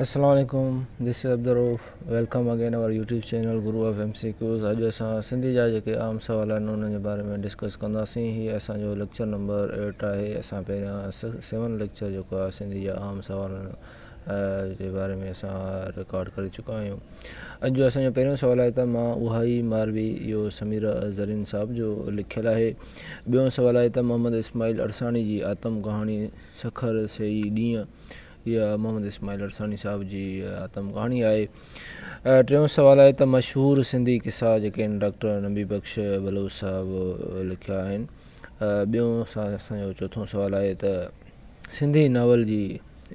السلام عليڪم this is Abdul Rauf welcome again our YouTube channel guru of M C Qs اڄ اسان سنڌي جا جيڪي عام سوال آهن انهن جي باري ۾ ڊسڪس ڪنداسين هي اسان جو ليڪچر نمبر ايٽ آهي اسان پهريان سيون ليڪچر جيڪو آهي سنڌي جا عام سوالن جي باري ۾ اسان رڪارڊ ڪري چڪا آهيون اڄ جو اسان جو پهريون سوال آهي ته مان اها ئي ماروي اهو سميرا زرين صاحب جو لکيل آهي ٻيون سوال آهي ته محمد اسماعيل ارساڻي جي آتم ڪهاڻي سکر سهي ڏينهن اها محمد اسماعيل عرساني صاحب جي آتم ڪهاڻي آهي. ٽيون سوال آهي ته مشهور سنڌي قصا جيڪي ان ڊاڪٽر نبي بخش بلوچ صاحب لکيا آهن. ٻيون اسان جو چوٿون سوال آهي ته سنڌي ناول جي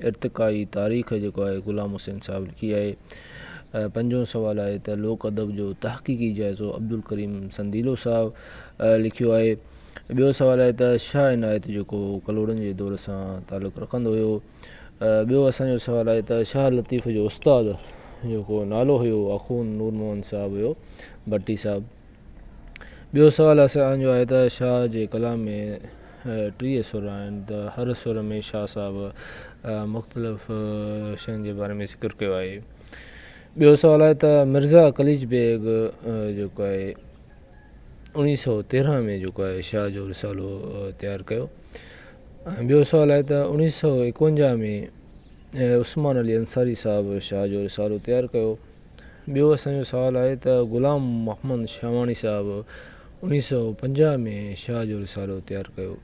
ارتقائي تاريخ جيڪو آهي غلام حسين صاحب لکي آهي. پنجون سوال آهي ته لوڪ ادب جو تحقيقي جائزو عبدالڪريم سنديلو صاحب لکيو آهي. ٻيو سوال آهي ته شاهه عنايت جيڪو ڪلهوڙن جي دور سان تعلق رکندو هيو. ٻيو اسان جو سوال آهي ته شاهه لطيف جو استاد جيڪو نالو هيو اخون نور موهن صاحب هيو ڀٽي صاحب. ٻيو سوال اسان جو آهي ته شاهه جي ڪلام ۾ ٽيهه سر آهن ته هر سر ۾ شاهه صاحب مختلف شين جي باري ۾ ذڪر ڪيو آهي. ٻيو سوال آهي ته مرزا قليچ بيگ جيڪو آهي. اڻيهه سؤ تيرنهن ۾ جيڪو آهي شاهه جو رسالو تيار ڪيو ۽ ٻيو سوال آهي ته اڻيهه سؤ ايڪونجاهه ۾ عثمان علي انصاري صاحب شاهه جو رسالو تيار ڪيو ٻيو اسان جو سوال آهي ته غلام محمد شاهواڻي صاحب اڻيهه سؤ پنجاهه ۾ شاهه جو رسالو تيار ڪيو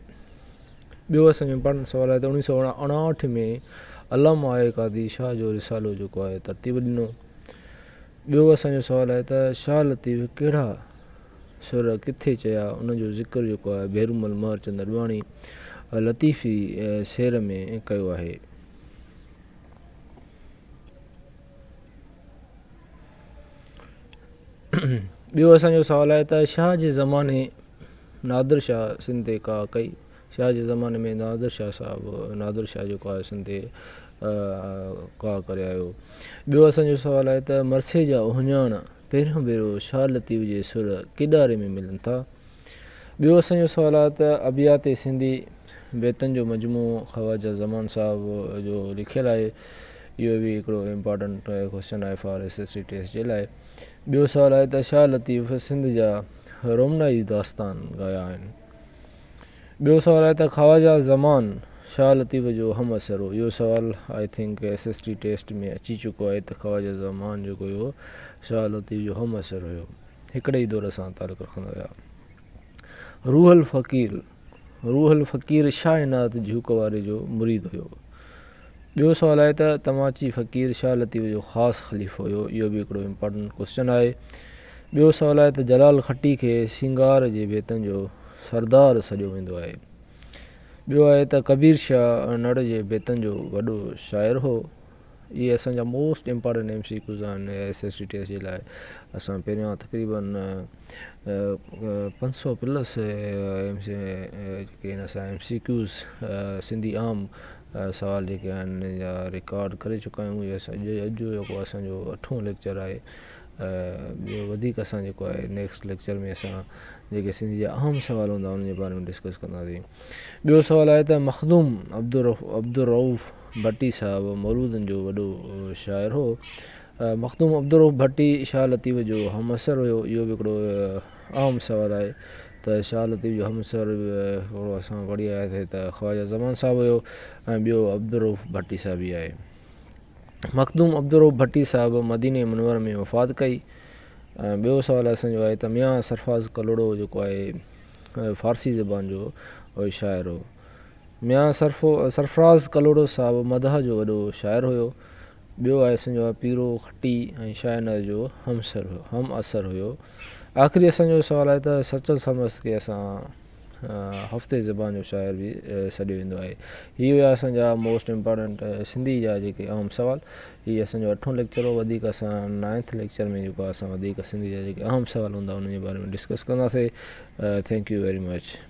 ٻيو اسان جو امپارٽنٽ سوال آهي ته اڻيهه سؤ اڻاهٺ ۾ علامه آء قاضي شاهه جو رسالو جيڪو آهي ترتيب ڏنو ٻيو اسان جو سوال آهي ته شاهه لطيف ڪهڙا سر ڪٿي چيا ان جو ذڪر جيڪو آهي ڀيرومل مهرچند اڏواڻي لطيفي سير ۾ ڪيو آهي. ٻيو اسان جو سوال آهي ته شاهه جي زماني نادر شاهه سنڌ تي ڪاهه ڪئي. شاهه جي زماني ۾ نادر شاهه صاحب نادر شاهه جيڪو آهي سنڌي ڪاهه ڪري آيو ٻيو اسان جو سوال آهي ته مرثيي جا اهڃاڻ پهريون ڀيرو شاهه لطيف جي سر ڪيڏاري ۾ ملن ٿا ٻيو اسان جو سوال آهي ته ابيات سنڌي بيتن جو مجموعو خواجه زمان صاحب جو لکيل آهي اهو به هڪڙو امپارٽنٽ ڪويشچن آهي for S S C test جي لاء ٻيو سوال آهي ته شاهه لطيف سنڌ جا رومنائي داستان ڳايا آهن ٻيو سوال آهي ته خواجه زمان شاهه لطيف جو هم عصر هو اهو سوال I think S S T test ۾ اچي چڪو آهي ته خواجه زمان جيڪو هيو شاهه لطيف جو هم عصر هيو هڪڙي ئي دور سان تعلق رکندا هيا روح الفقير روح الفقير شاهه عنايت جهوڪ واري جو مريد هيو ٻيو سوال آهي ته توهان چي فقير شاهه لطيف جو خاص خليفو هيو اهو به هڪڙو امپارٽنٽ ڪوسچن آهي. ٻيو سوال آهي ته جلال کٽي کي سينگار جي بيتن جو سردار سڏيو ويندو آهي. ٻيو آهي ته ڪبير شاهه انڙ جي بيتن جو وڏو شاعر هو. اهي اسان جا most important M C Qs آهن ايس ايس سي ٽيسٽ جي لاء اسان پهريان تقريبا پنج سئو plus M C Qs Sindhi عام سوال جيڪي آهن جا رڪارڊ ڪري چڪا آهيون يس اڄ اڄ جو جيڪو اسان جو اٺون ليڪچر آهي ٻيو وڌيڪ اسان جيڪو آهي نيڪسٽ ليڪچر ۾ اسان جيڪي سنڌ جا اهم سوال هوندا ان جي باري ۾ ڊسڪس ڪنداسين ٻيو سوال آهي ته مخدوم عبدالرؤف ڀٽي صاحب مولودن جو وڏو شاعر هو مخدوم عبدالرؤف ڀٽي شاهه لطيف جو همعصر هيو اهو به هڪڙو عام سوال آهي ته شاهه لطيف جو همعصر هڪڙو اسان پڙهي آياسين ته خواجه زمان صاحب هيو ۽ ٻيو عبدالرؤف ڀٽي صاحب ئي آهي. مخدوم عبدالرؤف ڀٽي صاحب مديني منور ۾ وفات ڪئي ۽ ٻيو سوال اسان جو آهي ته ميان سرفراز ڪلهوڙو جيڪو آهي فارسي زبان جو شاعر هو. ميان سرفراز ڪلهوڙو صاحب مدح جو وڏو شاعر هيو. ٻيو آء سنجو آء پيرو کٽي ۽ شاهنر جو هم عصر هيو. آخري اسان جو سوال آهي ته سچل سرمست کي اسان هفتي زبان جو شاعر به سڏيو ويندو آهي. هي هيا اسان جا موسٽ امپارٽنٽ سنڌي جا جيڪي اهم سوال. هي اسان جو اٺون ليڪچر هو وڌيڪ اسان نائنٿ ليڪچر ۾ جيڪو آهي اسان وڌيڪ سنڌي جا جيڪي اهم سوال هوندا انهن جي باري ۾ ڊسڪس ڪنداسي. Thank you very much.